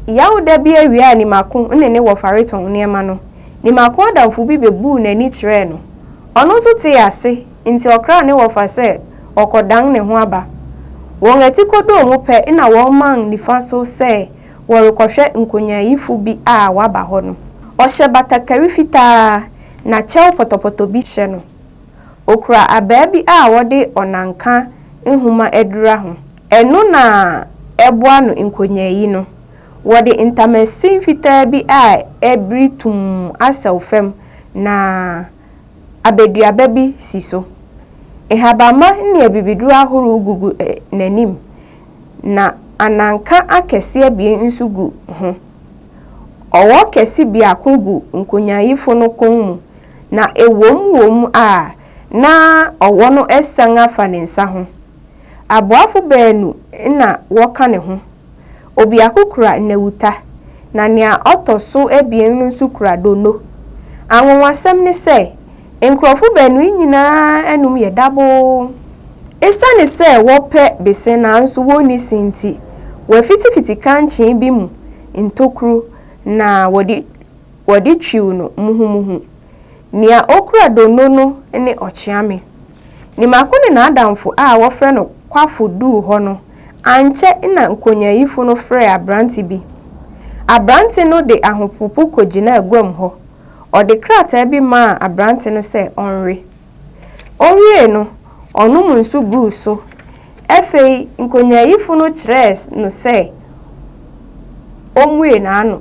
Yawda bi awia a Nimako ne ne wɔfa retɔn nneɛma no, Nimako adamfo bi bebuu n'ani kyerɛɛ no. Ɔno nso tee ase nti ɔkraa ne wɔfa sɛ ɔrekɔdan ne ho aba. Wɔn atikodoo mu pɛ na wɔman nifa so sɛ wɔrekɔhwɛ nkonyaayifo bi a waba hɔ no. Ɔhyɛ batakari fitaa na kyɛw pɔtɔpɔtɔ bi hyɛ no. Okura abaa bi a wɔde ɔnanka nhoma adura ho. Ɛno na ɛboa no nkonyaayi no. Wɔde ntamasin fitaa bi a abiri tumm asɛw fam na abaduaba bi si so. Nhabamma ne abibiduru ahorow gugu n'anim, na ananka akɛse abien nso gu ho. Ɔwɔ kɛse biako gu nkonyaayifo no kɔn mu na ɛwom wom a na ɔwɔ no asian afa ne nsa ho. Aboafo baanu na wɔka ne ho. Obiako kura nnawuta, na nea ɔtɔ so abien no nso kura donno. Anwonwasɛm ne sɛ, nkurɔfo baanu yi nyinaa anom yɛ daboo. Esiane sɛ wɔpɛ bese nanso wonni se nti, wɔafitifiti kankyee bi mu ntokuru na wɔde Wɔde twiw no muhumuhu. Nea okura donno no ne ɔkyeame. Nimako ne n'adamfo a wɔfrɛ no Kwafo duu hɔ no, ankyɛ na nkonyaayifo no frɛɛ aberante bi. Aberante no de ahopopo kogyinaa guam hɔ. Ɔde krataa bi maa aberante no sɛ ɔnwe. Owiei no, ɔnom nsu guu so. Afei nkonyaayifo no kyerɛɛ no sɛ ommue n'ano.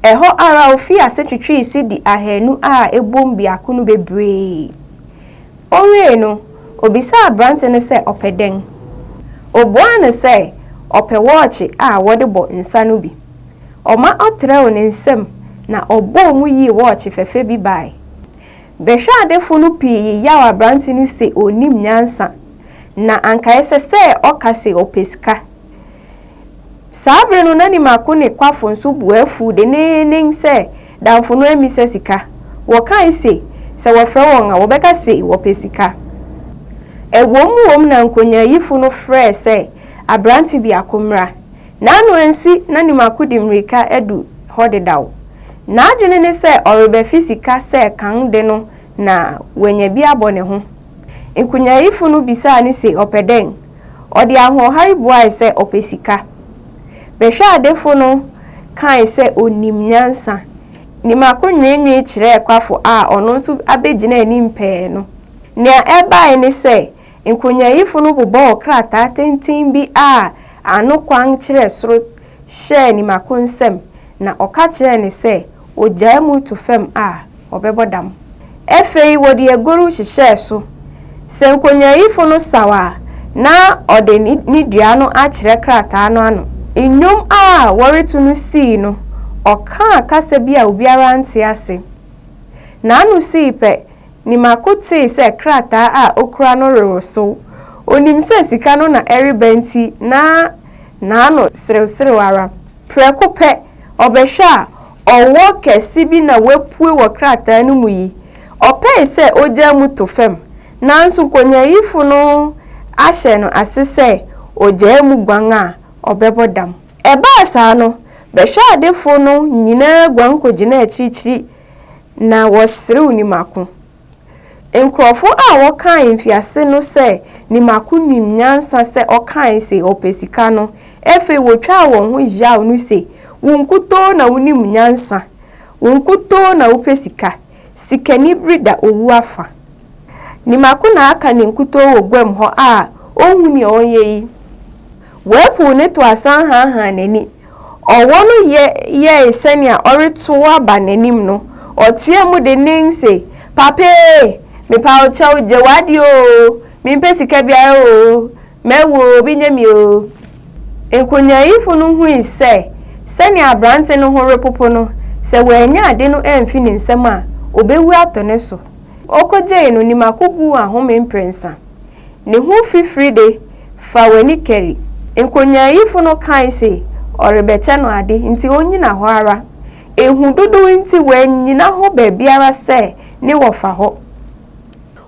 Ɛhɔ ara ofii ase twetwee sidi ahanu a ɛbom biako no bebree. Owiei no, obisaa aberante no sɛ ɔpɛ dɛn. Obuaa no sɛ ɔpɛ wɔɔkye a wɔde bɔ nsa no bi. Ɔma ɔtrɛw ne nsam na ɔbɔɔ mu yii wɔɔkye fɛfɛ bi bae. Bɛhwɛadefo no pii yeyaw aberante no se onnim nyansa, na anka ɛsɛ sɛ ɔka se ɔpɛ sika. Saa bere no na ne mako ne kwafo nso bo afuw denneennen sɛ damfo no ammisa sika. Wɔkae se sɛ wɔfrɛ wɔn a, wɔbɛka se wɔpɛ sika. Ɛwom wom na nkonyaayifo no frɛɛ sɛ aberante biako mmra. N'ano ansi na nim akodi mmirika adu hɔ dedaw. N'adwene ne sɛ ɔrebɛfe sika sɛ kan de no na wanya bi abɔ ne ho. Nkonyaayifo no bisaa no se ɔpɛ dɛn? Ɔde ahoɔhare buae sɛ ɔpɛ sika. Bɛhwɛadefo no kae sɛ onim nyansa. Nimako nwenwee kyerɛɛ kwafo a ɔno nso abegyina anim pɛɛ no. Nea ɛbae ne sɛ Nkonyaayifo no bobɔɔ krataa tenten bi a ano kwan kyerɛ soro hyɛɛ Nimako nsam na ɔka kyerɛɛ no sɛ ogyaa mu to fam a, ɔbɛbɔ dam. Afei wɔde agoru hyehyɛɛ so. Sɛ nkonyaayifo no saw a, na ɔde ne ne dua no akyerɛ krataa no ano. Nnwom a wɔreto no sii no, ɔkaa kasa bi a obiara nte ase. N'ano sii pɛ Nimako tee sɛ krataa a okura no rewosow. Onim sɛ sika no na ɛreba nti na n'ano serewserew ara. Prɛko pɛ, ɔbɛhwɛ a, ɔwɔ kɛse bi na wapue wɔ krataa no mu yi. Ɔpɛe sɛ ogyaa mu to fam, nanso nkonyaayifo no ahyɛ no ase sɛ ogyaa mu guan a, ɔbɛbɔ dam. Ɛbaa saa no, bɛhwɛadefo no nyinaa guan kogyinaa akyirikyiri Na wɔserew Nimako. Nkurɔfo a wɔkae mfiase no sɛ Nimako nim nyansa sɛ ɔkae se ɔpɛ sika no, afei wotwaa wɔn ho hyaw no se, Wo nkutoo na wunim nyansa. Wo nkutoo na wopɛ sika. Sikanibere da owu afa. Nimako na aka ne nkutoo wɔ guam hɔ a onhu nea ɔnyɛ yi. Wɔapuw ne to asan haahaa n'ani Ɔwɔ no yɛ yɛe sɛnea ɔretow aba n'anim no, ɔteɛɛ mu dennen se, Papa ee, mepa wo kyɛw, gye w'ade oo, mempɛ sika biara oo, mawu oo, obi nyɛ me oo. Nkonyaayifo no hui sɛ, sɛnea aberante no ho repopo no, sɛ wannya ade no amfi ne nsam a, obewu atɔ ne so. Okogyee no, ne mako guu ahome mprɛnsa. Ne ho fifiri de, fa w'ani kari. Nkonyaayifo no kae se ɔrebɛkyɛ no ade, nti onnyina hɔ ara. Ehu dodow nti wannyina hɔ baabiara sɛ ne wɔfa hɔ.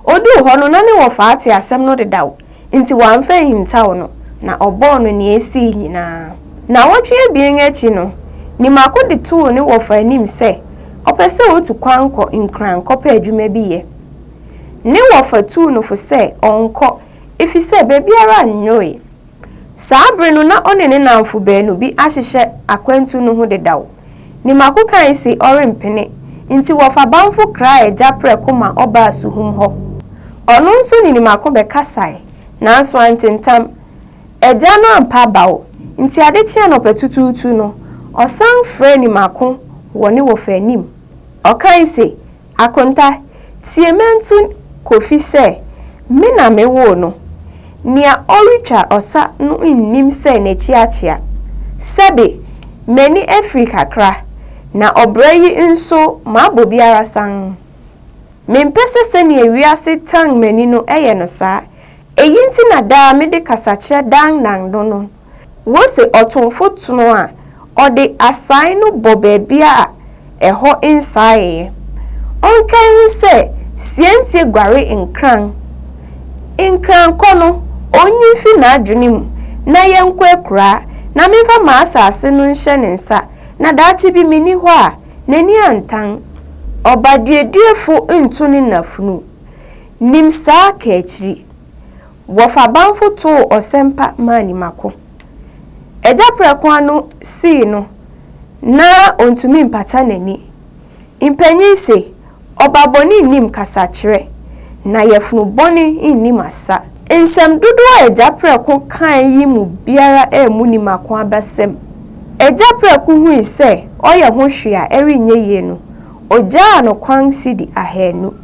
Oduu hɔ no na ne wɔfa ate asɛm no dedaw, nti wamfa anhintaw no, na ɔbɔɔ no nea esii nyinaa. Nnawɔtwe abien akyi no, Nimako de too ne wɔfa anim sɛ ɔpɛ sɛ otu kwan kɔ Nkran kɔpɛ adwuma bi yɛ. Ne wɔfa tuu no fo sɛ ɔnkɔ efisɛ baabiara nnwoe. Saa bere no na ɔne ne nnamfo baanu bi ahyehyɛ akwantu no ho dedaw. Ne mako kae se ɔrempene, nti wɔfa bamfo kraa agya prɛko ma ɔbaa suhum hɔ. Ɔno nso ne ne mako bɛkasae, nanso ante ntam. Agya no ampa abaw, nti ade kyee anɔpatutuutu no, ɔsan frɛɛ ne mako wɔ ne wɔfa anim. Ɔkae se, Akonta, Tie Mantu Kofi sɛ me na me woo no. Nea ɔretwa ɔsa no nnim sɛ n'akyi akyea. Sɛbe, m'ani afiri kakra, na ɔbrɛ yi nso mabɔ bi ara sann. Mempɛ sɛ sɛnea wiase tan m'ani no yɛ no saa. Eyi nti na daa mede kasakyerɛ dannan no no. Wose ɔtomfo tono a ɔde asae no bɔ baabi a ɛhɔ nsaeɛ. Ɔnkae ho sɛ siantie guare nkran. Nkran kɔ no, ɔnyi mfi n'adwene mu na yɛnkɔ akuraa na memfa m'asaase no nhyɛ ne nsa na daakye bi menni hɔ a, n'ani antan. Ɔbaduaduafo nto ne nafunu. Nim saa kaakyiri. Wɔfa bamfo too ɔsɛmpa maa nimako. Agya prɛko ano sii no na ontumi mpata n'ani. Mpanyin se, Ɔba bɔne nnim kasakyerɛ, na yafunu bɔne nnim asa. Nsɛm dodow a agya prɛko kae yi mu biara ammu nimako abasam. Agya prɛko hui sɛ ɔyɛ ho hwee a ɛrenyɛ yie no, ogyaa no kwan sidi ahanu.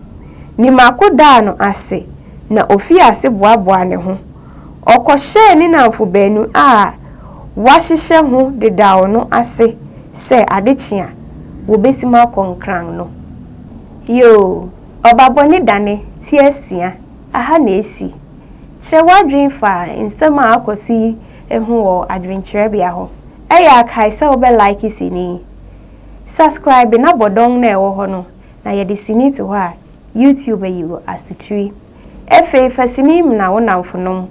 Nimako daa no ase. na ofii ase boaboaa ne ho. Ɔkɔhyɛɛ ne nnamfo baanu a wɔahyehyɛ ho dedaw no ase sɛ ade kye a, wobesiim akɔ Nkran no. Yoo, ɔbabɔne da ne ti asia ha na esi. Kyerɛ w'adwene fa nsɛm a akɔ so yi ho wɔ adwenkyerɛbea hɔ. Ɛyɛ a kae sɛ wobɛ like sini yi. Subscribe na bɔ dɔn no a ɛwɔ hɔ no, na yɛde sini to hɔ a, YouTube ayi wo asotiri. Ɛfei fa sini mena wo namfonom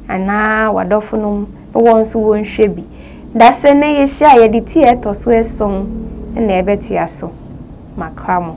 anaa wadɔfonom na wɔn nso wɔnhwɛ bi. Dasɛ nnɛ yɛhyia a yɛde ti a ɛtɔ so ason na ɛbɛtoa so. Makra mo.